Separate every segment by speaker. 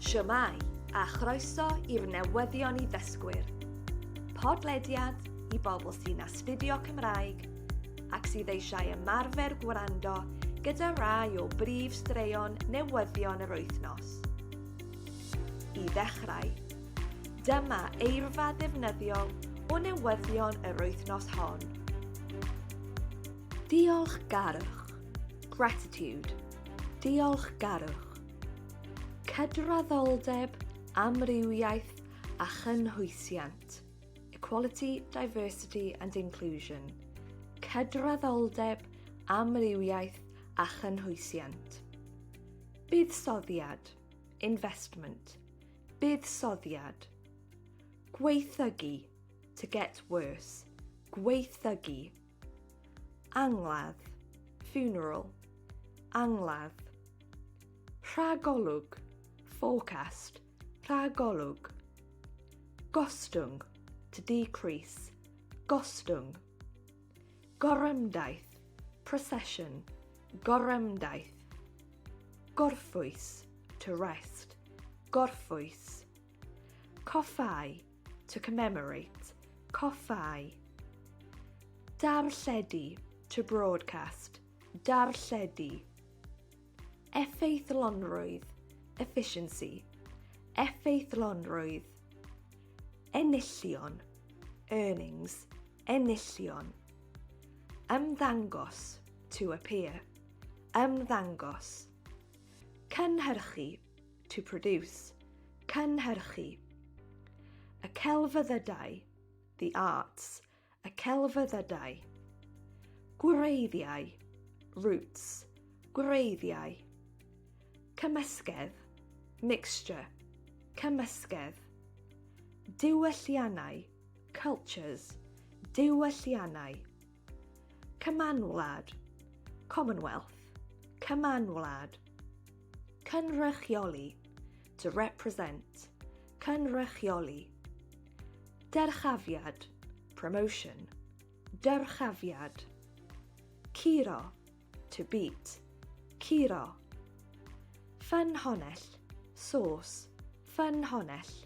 Speaker 1: Shwmae, a chroeso i'r newyddion i ddysgwyr. Podlediad i bobl sy'n astudio Cymraeg ac sydd eisiau ymarfer gwrando gyda rai o brif straeon newyddion yr wythnos. I ddechrau, dyma eirfa ddefnyddiol o newyddion yr wythnos hon. Diolch garwch, gratitude, Diolchgarwch, cydraddoldeb, amrywiaeth a chynhwysiant, equality, diversity and inclusion, cydraddoldeb, amrywiaeth a chynhwysiant. Buddsoddiad, investment, buddsoddiad. Gweithygu, to get worse, gweithygu. Angladd, funeral, angladd. Rhagolwg, forecast, rhagolwg. Gostwng, to decrease, gostwng. Gorymdaith, procession, gorymdaith. Gorffwys, to rest, gorffwys. Coffau, To commemorate, coffau. Darlledu, to broadcast, darlledu. Effeithlonrwydd, efficiency, effeithlonrwydd. Enillion, earnings, enillion. Ymddangos, to appear, ymddangos. Cynhyrchu, to produce, cynhyrchu. Y celfyddydau, the arts, y celfyddydau. Gwreiddiau, roots, gwreiddiau. Cymysgedd, mixture, cymysgedd. Diwylliannau, cultures, diwylliannau. Cymanwlad, Commonwealth, Cymanwlad. Cynrychioli, to represent, Cynrychioli. Dyrchafiad, promotion, Dyrchafiad. Curo, to beat, Curo. Ffynhonell, source, Ffynhonell.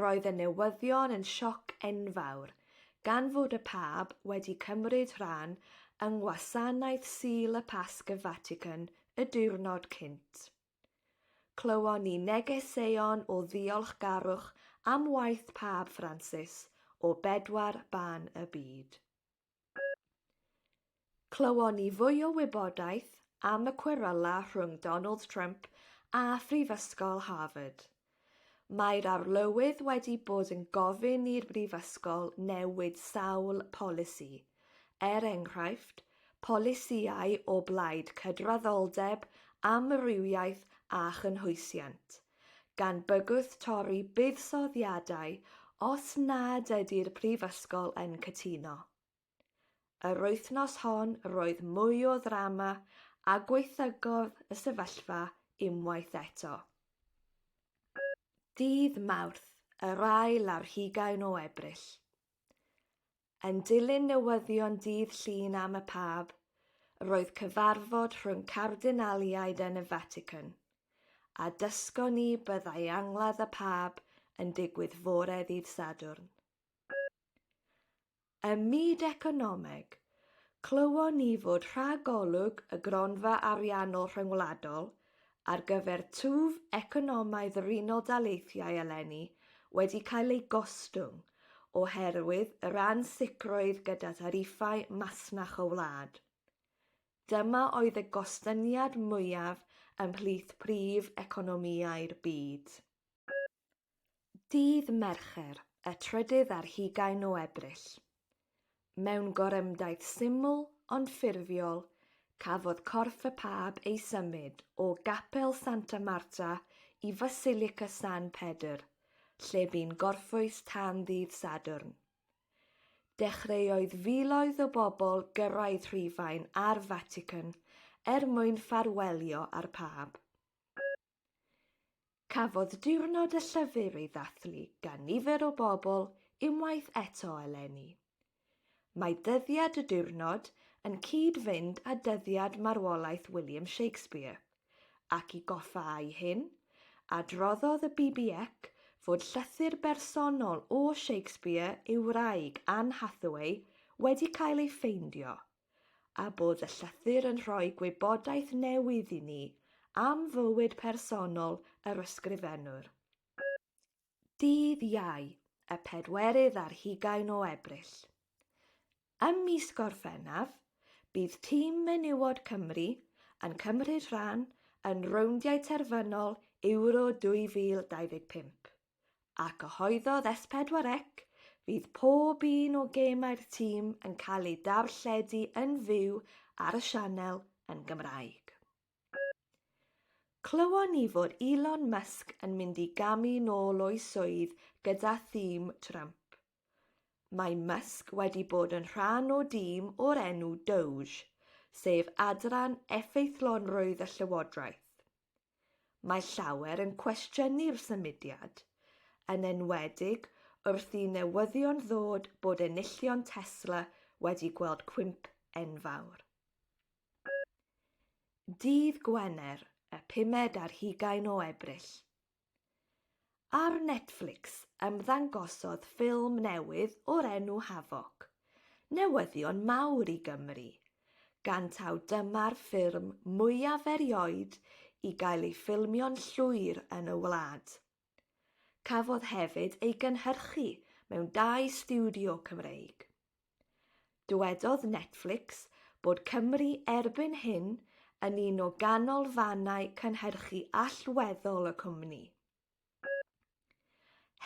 Speaker 1: Roedd y newyddion yn sioc enfawr, gan fod y Pab wedi cymryd rhan yng Ngwasanaeth Sul y Pasg y Fatican y diwrnod cynt. Clywon ni negeseuon o ddiolchgarwch am waith Pab Ffransis o bedwar ban y byd. Clywon ni fwy o wybodaeth am y cweryla rhwng Donald Trump a Phrifysgol Harvard. Mae'r arlywydd wedi bod yn gofyn i'r brifysgol newid sawl polisi, er enghraifft, polisïau o blaid cydraddoldeb, amrywiaeth a chynhwysiant. gan bygwth torri buddsoddiadau os nad ydy'r Prifysgol yn cytuno. Yr wythnos hon roedd mwy o ddrama a gwaethygodd y sefyllfa unwaith eto. Ddydd Mawrth, yr ail ar hugain o Ebrill. Yn dilyn newyddion dydd Llun am y Pab, roedd cyfarfod rhwng cardinaliaid yn y Vatican, a dysgon ni byddai angladd y Pab yn digwydd fore ddydd Sadwrn. Ym myd economeg, clywon ni fod rhagolwg y gronfa ariannol rhyngwladol ar gyfer twf economaidd yr Unol Daleithiau eleni wedi cael ei gostwng oherwydd yr ansicrwydd gyda thariffau masnach y wlad. Dyma oedd y gostyngiad mwyaf ymhlith prif economïau'r byd. Dydd Mercher, y trydydd ar hugain o Ebrill. Mewn gorymdaith syml ond ffurfiol, cafodd corff y Pab ei symud o Gapel Santa Marta i Fasilica San Pedr, lle bu'n gorffwys tan ddydd Sadwrn. Dechreuoedd filoedd o bobl gyrraedd Rhufain a'r Fatican er mwyn ffarwelio â'r Pab. Cafodd Diwrnod y Llyfr ei ddathlu gan nifer o bobl unwaith eto eleni. Mae dyddiad y diwrnod yn cyd-fynd â dyddiad marwolaeth William Shakespeare, ac i goffa â'i hyn, adroddodd y BBEC fod llythyr bersonol o Shakespeare i'w wraig Anne Hathaway wedi cael ei ffeindio, a bod y llythyr yn rhoi gwybodaeth newydd i ni am fywyd personol yr ysgrifennwr. Dydd Iau, y pedwerydd ar hugain o Ebrill. Ym mis Gorffennaf, bydd tîm menywod Cymru yn cymryd rhan yn rowndiau terfynol Euro 2025. a cyhoeddodd S4C fydd pob un o gemau'r tîm yn cael eu darlledu yn fyw ar y sianel yn Gymraeg. Clywon ni fod Elon Musk yn mynd i gamu nôl o'i swydd gyda thîm Trump. Mae Musk wedi bod yn rhan o dîm o'r enw Doge, sef adran effeithlonrwydd y llywodraeth. Mae llawer yn cwestiynu'r symudiad, yn enwedig wrth i newyddion ddod bod enillion Tesla wedi gweld cwymp enfawr. Dydd Gwener, y pumed ar hugain o Ebrill. Ar Netflix ymddangosodd ffilm newydd o'r enw Havoc, newyddion mawr i Gymru, gan taw dyma'r ffilm mwyaf erioed i gael ei ffilmio'n llwyr yn y wlad. Cafodd hefyd ei gynhyrchu mewn dau stiwdio Cymreig. Dywedodd Netflix bod Cymru erbyn hyn yn un o ganolfannau cynhyrchu allweddol y cwmni.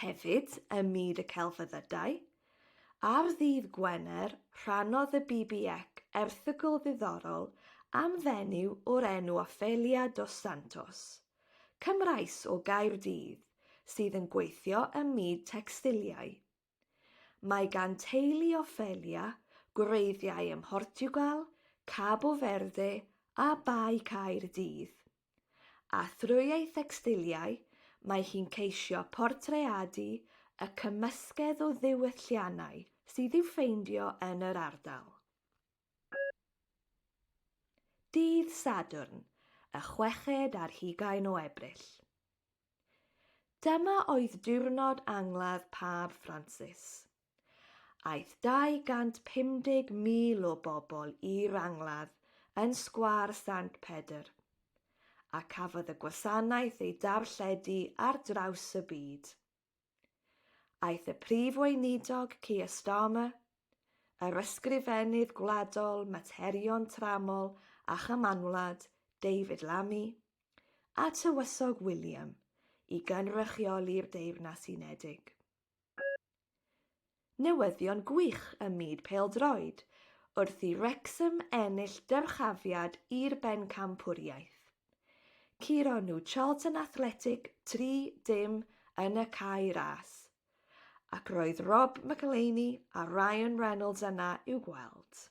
Speaker 1: Hefyd, ym myd y celfyddydau, ar ddydd Gwener rhannodd y BBEC erthygl ddiddorol am fenyw o'r enw Ofelia dos Santos, Cymraes o Gaerdydd, sydd yn gweithio ym myd tecstiliau. Mae gan teulu Ophelia gwreiddiau ym Mhortiwgal, Cabo Verde a Bae Caerdydd. A thrwy ei thecstiliau, mae hi'n ceisio portreadu y cymysgedd o ddiwylliannau sydd i'w ffeindio yn yr ardal. Dydd Sadwrn, y chweched ar hugain o Ebrill. Dyma oedd diwrnod angladd Pab Ffransis. Aeth 250,000 o bobl i'r angladd yn Sgwâr Sant Pedr, a cafodd y gwasanaeth ei darlledu ar draws y byd. Aeth y Prif Weinidog Keir Starmer, yr Ysgrifennydd Gwladol Materion Tramol a Chymanwlad David Lammy a Tywysog William i gynrychioli'r Deyrnas Unedig. newyddion gwych ym myd pêl-droed wrth i Wrecsam ennill dyrchafiad i'r Bencampwriaeth. Curo nhw Charlton Athletic 3 dim yn y cae ras, ac roedd Rob McElhenney a Ryan Reynolds yna i'w gweld.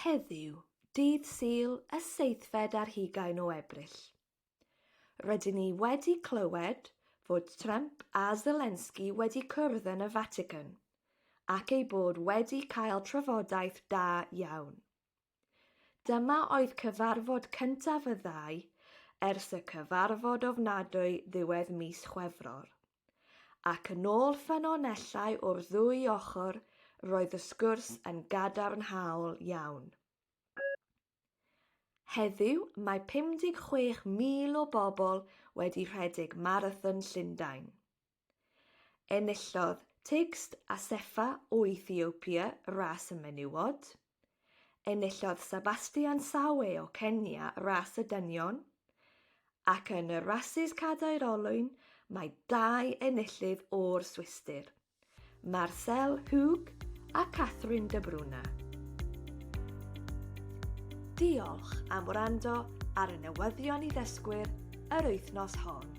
Speaker 1: Heddiw, dydd Sul y seithfed ar hugain o Ebrill, rydyn ni wedi clywed fod Trump a Zelensky wedi cwrdd yn y Fatican ac eu bod wedi cael trafodaeth da iawn. Dyma oedd cyfarfod cyntaf y ddau ers y cyfarfod ofnadwy ddiwedd mis Chwefror. Ac yn ôl ffynonellau o'r ddwy ochr, roedd y sgwrs yn gadarnhaol iawn. Heddiw, mae 56,000 o bobl wedi rhedeg Marathon Llundain. Enillodd Tigst Assefa o Ethiopia ras y menywod, Enillodd Sebastian Sawe o Kenya ras y dynion, ac yn y rasys cadair olwyn mae dau enillydd o'r Swistir, Marcel Hug a Catherine de Bruna. Diolch am wrando ar y newyddion i ddysgwyr yr wythnos hon.